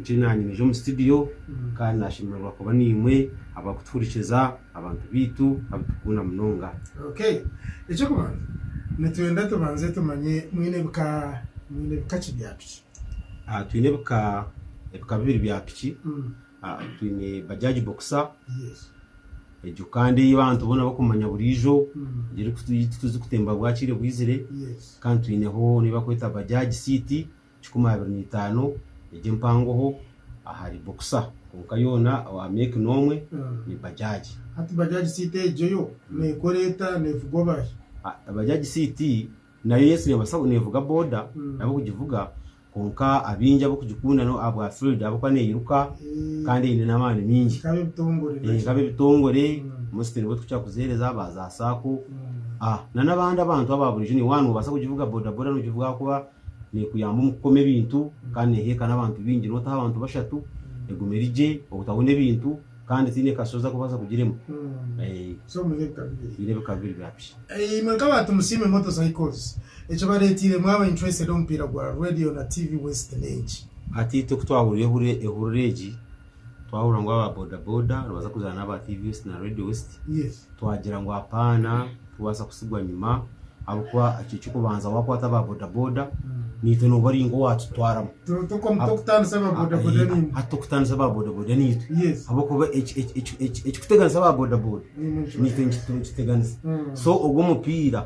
Nyowe naanye naija omu situdiyo kandi naashemererwa kuba naimwe abarikutuhurikiza, abantu baitu abu turikukunda munonga. Okay. Eky'okubanza nitwenda tubanze tumanye mwine bika mwine bika ki bya piki? Ah, Twine ebika ebika bibiri bya piki. Ah, Twine Bajaaji Boxer, Yes. egyo kandi ei abantu boona barikumanya buriijo, egyo eriku- ei turikutemba bwakiire bwizire. Yes. Kandi twineho n'ei barikweta Bajaaji City. kikumi abiri na itaano egi empangoho ahari boxer kwonka yoona owa make n'omwe ni bajaaji. Hati bajaaji city egyo yo neekora eta? Neevugwa baahi? Bajaaji city nayo yes neebaasa neevuga boda n'ab'okugivuga kwonka abaingi ab'okugikunda n'ahabwa field ahabw'okuba neeiruka kandi eine n'amaani maingi Nka ab'ebitongore naki? nka ab'ebitongore mostly nibo turikukira kuziheereza ba za sacco n'abandi abantu aba buriijo, naiwe waaba noobaasa kugivuga boda boda noogivuga ahabw'okuba Neekuyamba omu kukoma ebintu kandi neeheeka n'abantu baingi. Nootaho abantu bashatu egume eri gye obutabona ebintu kandi tihaine kashozi arikubaasa kugirema. Twine ebika bibiri bya piki. Imwe nk'aba Tumusiime Motor Cycles, ekibareeteire mwaba interested omu mupiira gwa Radio na TV West n'enki? Hati itwe ku twahuriire ehurire egi, Twahurira ngu aba boda boda nibaza kuzaana n'aba TV West na Radio West, twagira ngu apaana tikubaasa kutsigwa nyima ahabw'okuba ekyo eky'okubanza waakwata aba boda boda naitwe nooba ori nk'owaatutwaramu. Hati tokutaanisa aba boda boda naitwe ahabw'okuba ekikuteganisa aba boda boda naitwe nikituteganisa. So ogwo omupiira.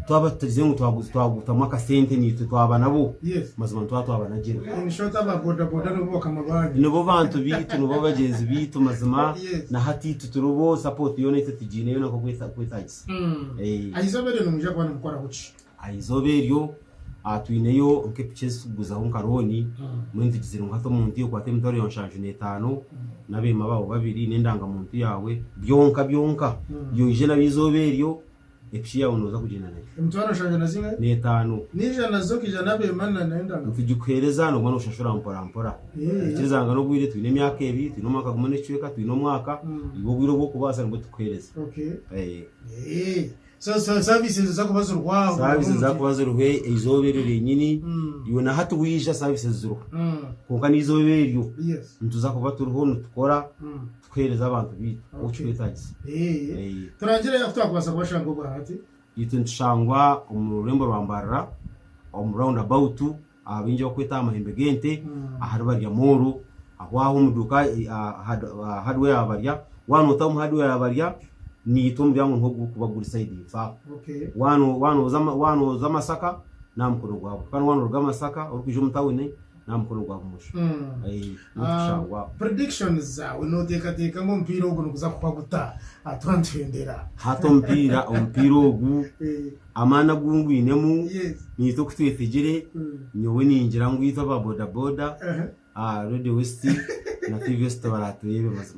twaba tutarize ngu twaguza twagutamu akasente naitwe twaba nabo Yes. mazima nitwaba twabanagira In short, aba bodaboda nibo bakama banyu. nibo bantu baitu nibo bagyenzi baitu mazima Yes. na hati itwe turibo support yoona itwe tugiine yoona nk'oku eta- ku etagisa Mm. Eh. Aha izooba eryo nimwija kuba nimukoraho ki? aha izooba eryo ah, twineyo nk'epiki ezi tukuguzaho nka looni Mm. mbwenu tugizire ngu hati omuntu yokwata emitwaro ya nshanju n'etaano n'abeema baawe babiri n'endangamuntu yaawe byonka byonka Mm. yoije nabyo izooba eryo Ekishiyaho nooza kugyenda nakyo. Emitwaro nshanju na zimwe. N'etaano. Naija nazo okaija n'abeema na n'endagano. Nitugikuheereza nooba nooshashura mporampora. Ikiriza ngu n'obwire twine emyaka ebiri, twine omwaka gumwe n'ekicweka, twine omwaka, nibwo bwire obw'okubaasa nibwo tukuheereza. Saaviisi niziza kuba ziriho aho? Saaviisi niziza kuba ziriho eizooba eryo ryenyini. Iwe na hati waija saaviisi ziriho. Kwonka n'eizooba eryo nituza kuba turiho nitukora. Tukuheereze abantu baitu oku kirikwetaagisa. Turangire ahu twakubaasa kubashanga obwa hati. Itwe nitushangwa omu rurembo rwa Mbarara omu Round About ahu baingi barikweta aha Mahembe g'Ente ahari Barya Mall ahu aho omu duuka aha Hardware ya Barya. Waaba nootaho omu Hardware ya Barya, niitwe omuryango niho gurikuba guri sayidi ifo aho. Waaba nooza Masaka, n'aha mukono gwa buryo. Kandi waaba nooruga Masaka orikwija omu tauni. n'aha mukono gwa bumosho Mm. Eh, niho Ah, tushangwa predictions zaawe nooteekateeka ngu omupiira ogu niguza kuhwa guta aha twantwendera hati omupiira omupiira ogu Eh, amaani agu ngwinemu yes. niitwe ku twetegire Mm. nyowe ningira ngu itwe aba bodaboda Aha. ah, radio west na tvs tubaraturebe mazima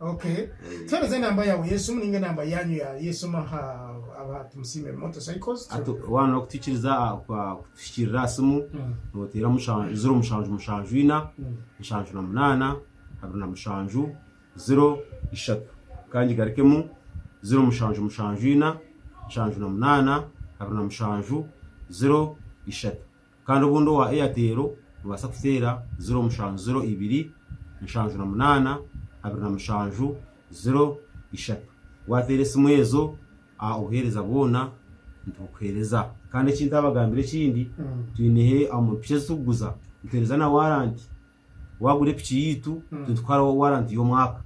Okay. Eh. Tuhereza enamba yawe y'esimu ninga enamba yanyu ya- y'esimu aha aha Tumusiime Motorcycles. Ati waana okutwikiriza aha- kwa- kutuhikiirira aha simu Mm. nooteera mushanju ziro mushanju mushanju ina Mm. nshanju na munaana abiri na mushanju ziro ishatu kandi garikemu ziro mushanju mushanju ina nshanju na munaana abiri na mushanju ziro ishatu Kandi obundi owa Airtel nobaasa kuteera ziro mushanju ziro ibiri nshanju na munaana abiri na mushanju ziro ishatu wateera esimu ezo obuheereza bwoona nibukuheereza Kandi eki ntabagambire ekindi twineho omu piki ezi turikuguza nituheereza na warranty Waagura epiki yaitu, titukuharaho waranti y'omwaka.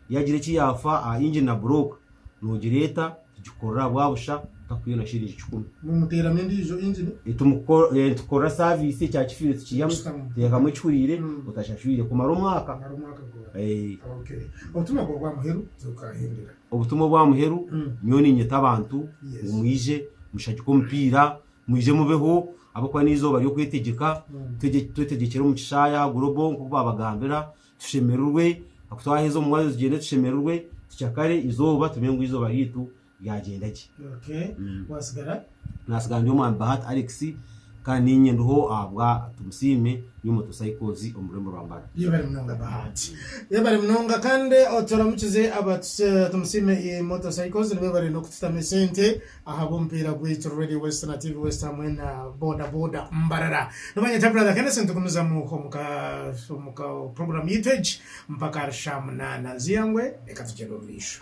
Yaagira eki yaafa aha ingini na burooka, noogireeta tugikukorera aha bwabusha otakwiire na shiringi kikumi. Nimuteeramu endiijo ingini? Nitukukorera saaviisi, ekyakifiire tukiihamu, tuteekamu ekihuriire, otashashwire kumara omwaka. Obutumwa bwawe obwa muheru nyowe bukaahindura? Obutumwa obwa muheru, nyowe niinyeta abantu ngu mwije mushagike omupiira, Mwije mubeho ahabw'okuba n'eizooba ry'okwetegyeka. Twegye twetegyekere omu Kishaaya Global nk'oku baabagambira. Tushemererwe, ahaku twaheza omu mwanya tugyende tushemererwe, tucakare eizooba tumenye ngu eizooba ryaitu ryagyenda gye. Okay. Mm. Waasigara? Naatsigara ndi omwami Bahati Alex kandi niinye ndiho ahabwa Tumusiime nyowe Motocycles omu rurembo rwa Mbara. Yebare munonga Bahati. Yebare munonga kandi oturamukize aba Tuse Tumusiime Motocycles nibebare n'okututamu esente. Ahabw'omupiira gwaitu Radio West na TV West hamwe na Boda Boda Mbarara. Nibanyeta Brother Kenneth nitugumizamu omu ka puroguramu yaitu egi mpaka ahari shaamunaana. Nziya ngwe reka tugyende omu maisho.